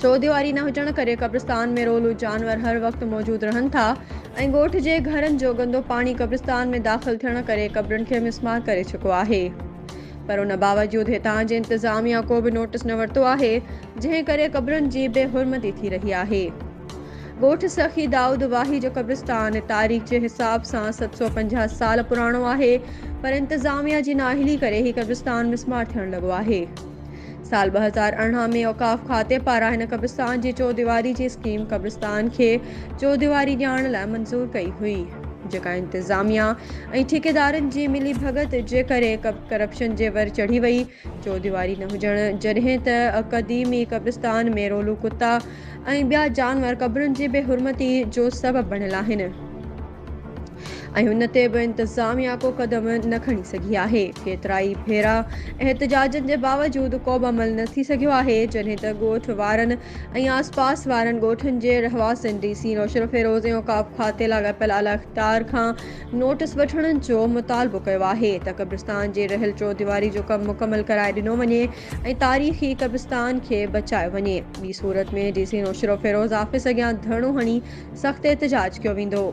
چوديواري نه هجڻ ڪري قبرستان ۾ رولو جانور هر وقت موجود رهن ٿا ۽ ڳوٺ جي گهرن جو گندو پاڻي قبرستان ۾ داخل ٿيڻ ڪري قبرن کي مسمار ڪري چڪو آهي پر ان باوجود هتان جي انتظاميا ڪو به نوٽس نه ورتو آهي جنهن ڪري قبرن جي بي حرمتي ٿي رهي آهي ڳوٺ سخي دائود واهي جو قبرستان تاريخ جي حساب سان ست سؤ پنجاهه سال پراڻو آهي پر انتظاميا جي نااهلي ڪري هي قبرستان مسمار ٿيڻ لڳو آهي سال ٻه هزار ارڙهن ۾ اوقاف کاتي پاران هن قبرستان جي چوديواري جي اسڪيم قبرستان کي چوديواري ڏيارڻ لاء منظور ڪئي هئي جيڪا انتظاميا ۽ ٺيڪيدارن جي ملي ڀڳت جي ڪري ڪرپشن جي ور چڙهي وئي چوديواري نه هجڻ جڏهن ته قديمي قبرستان ۾ رولو ڪتا ۽ ٻيا جانور قبرن جي بي حرمتي جو سبب بڻيل آهن. ۽ ان تي به انتظاميا ڪو قدم نه کڻي سگهي آهي، ڪيترائي ڀيرا احتجاجن جي باوجود ڪوبه عمل نه ٿي سگهيو آهي، جڏهن ته ڳوٺ وارن ۽ آسپاس وارن ڳوٺن جي رهواسين ڊي سي نوشهروفيروز ۽ اوقاف کاتي لاڳاپيل اعليٰ اختيار کان نوٽس وٺڻ جو مطالبو ڪيو آهي ته قبرستان جي رهيل چوديواري جو ڪم مڪمل ڪرائي ڏنو وڃي ۽ تاريخي قبرستان کي بچايو وڃي ٻي صورت ۾ ڊي سي نوشهروفيروز آفيس اڳيان ڌرڻو هڻي سخت احتجاج ڪيو ويندو.